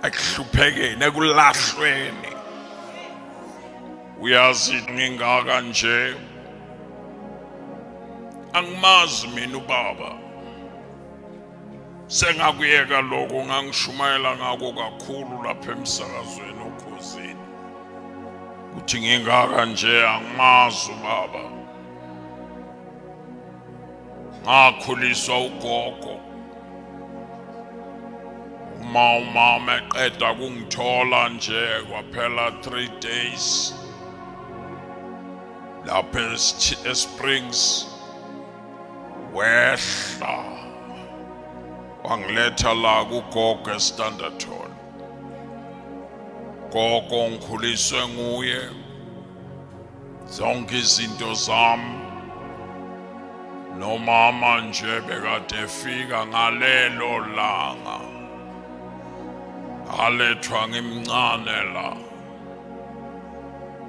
ekuhluphekeni ekulahlweni uyazi ngingaka nje angimazi mina ubaba sengakuyeka lokho ngangishumayela ngako kakhulu lapha emsakazweni okhozini uthi ngingaka nje angimazi ubaba ngakhuliswa ugogo uma umama eqeda kungithola nje kwaphela 3 days lapha esprings wehla wangiletha la kugogo estanderton gogo ngikhuliswe nguye Zonke izinto zami nomama nje bekade efika ngalelo langa alethwa ngimncane la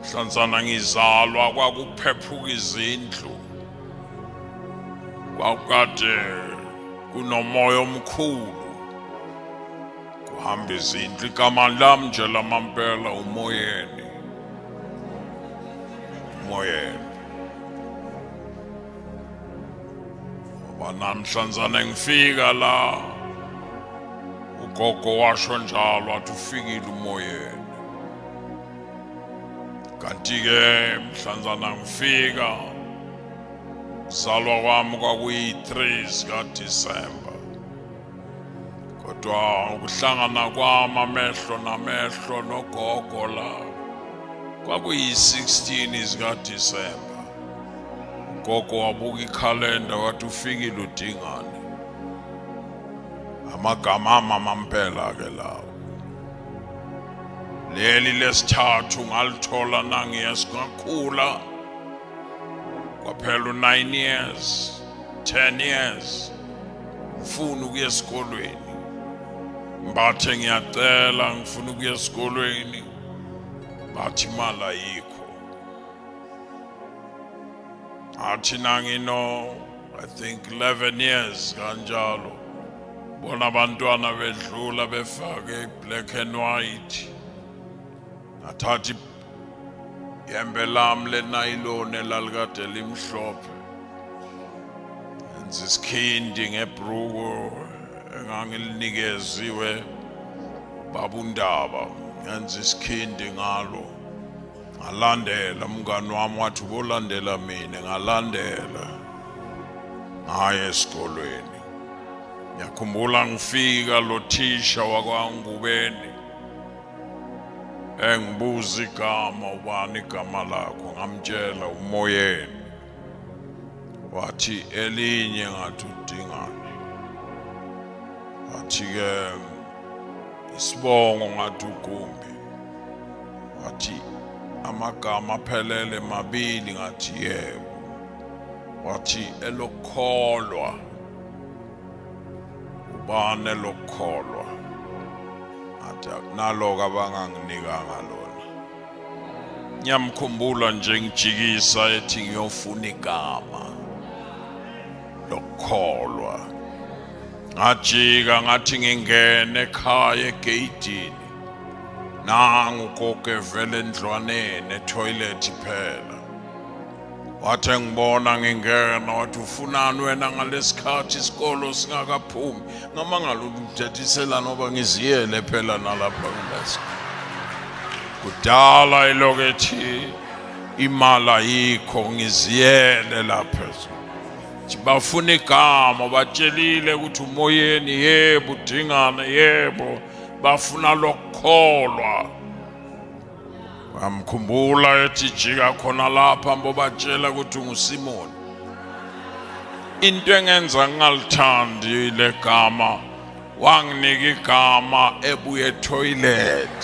hlanzana ngizalwa kwakuphephuka izindlu kwakukade kunomoya omkhulu Kuhamba izindlu igama lami nje lamampela umoyeni. Umoyeni. Banamhlanzana ngifika la. Ugogo washo njalo athi ufikile umoyeni. Kanti ke mhlanzana ngifika zalwa kwami kwakuyi 3 zika December. kodwa ukuhlangana kwami amehlo namehlo nogogo la kwakuyi-16 zikadisemba ugogo wabuka ikhalenda wathi ufikile udingane amagama amamampela ke lawo leli lesithathu ngalithola nangiye singakhula kwaphela u-9 years 10 years ngifuna ukuya esikolweni mbathe ngiyacela ngifuna ukuya esikolweni bathi imali ayikho athi nangino i think 11 years kanjalo bona abantwana bedlula befake black and white athathi Yembe lam lenayiloni elalikade limhlophe. Enza isikhindi ngebruku engangilinikezwe babundaba. Ngenza isikhindi ngalo. Ngalandela umngani wami wathi ubolandela mina ngalandela. Ngaye esikolweni. Ngiyakhumbula ngifika lo thisha wakwangubeni engibuza igama ubani igama lakho ngamtshela umoyeni wathi elinye ngathi udingani wathi-ke isibongo ngathi ugumbi wathi amagama aphelele mabili ngathi yebo wathi elokukholwa ubani elokukholwa athi akunaloku abanganginikanga lona ngiyamkhumbula nje ngijikisa ethi ngiyofuna igama lokukholwa ngajika ngathi ngingene ekhaya egeyidini nangu koke vele endlwaneni etoilet phela wathi engibona ngingena wathi ufunani wena ngalesikhathi isikolo singakaphumi ngamangala ukuthethisela noba ngiziyele phela nalapha kulesi kudala ilokethi imali ayikho ngiziyele lapha bafuna igama batshelile ukuthi umoyeni yebo udingane yebo bafuna lokukholwa amkhumbula ethi jika khona lapha mbobatshela ukuthi ungusimoni into engenza ngingalithandi le gama wanginika igama ebuye toilet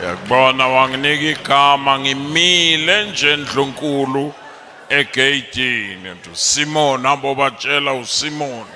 yakubona wanginika igama ngimile nje ndlunkulu egeyidini simoni ambobatshela usimoni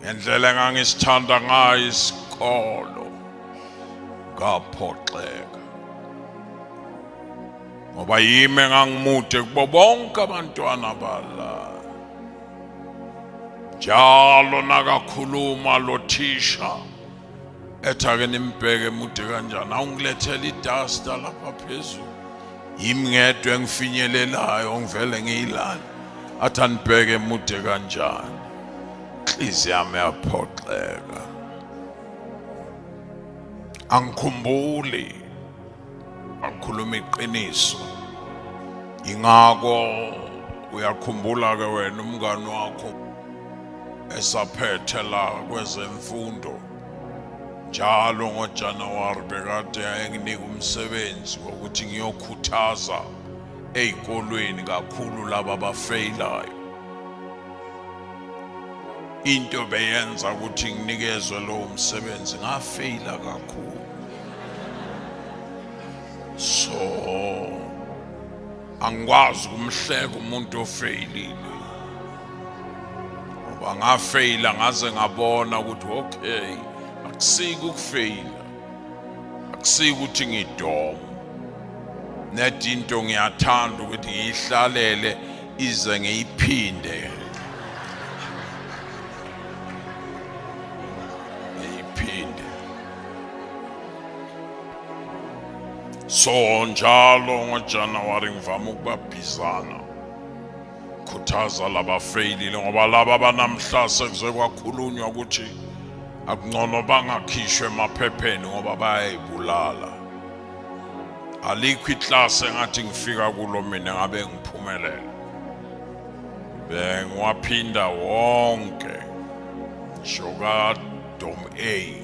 ngendlela engangisithanda ngayo isikolo ngaphoxeka ngoba yimi engangimude kubo bonke abantwana bala njalo nakakhuluma lo thisha ethi ake nimbheke mude kanjani awungilethela idasta lapha phezulu yimi ngedwa engifinyelelayo ngivele ngiyilale athi anibheke mude kanjani inhliziyo yami yaphoxeka angikhumbuli akhuluma iqiniso ingako uyakhumbula ke wena umngani wakho esaphethe la kwezemfundo njalo ngoJanuwari bekade ayenginika umsebenzi wokuthi ngiyokhuthaza ezikolweni kakhulu laba bafeyilayo into beyenza ukuthi nginikezwe lowo msebenzi ngafeyila kakhulu so angikwazi ukumhleka umuntu ofeyilile ngoba ngafeyila ngaze ngabona ukuthi okay akusiki ukufeyila akusiki ukuthi ngidoma net into ngiyathanda ukuthi ngiyihlalele ize ngiyiphinde so njalo ngojanuwari ngivame ukubabhizana khuthaza labafeyilile ngoba laba banamhla sekuze kwakhulunywa ukuthi akungcono bangakhishwe emaphepheni ngoba bayayibulala alikho iklasi engathi ngifika kulo mina ngabe ngiphumelela bengiwaphinda wonke ngisho kadom a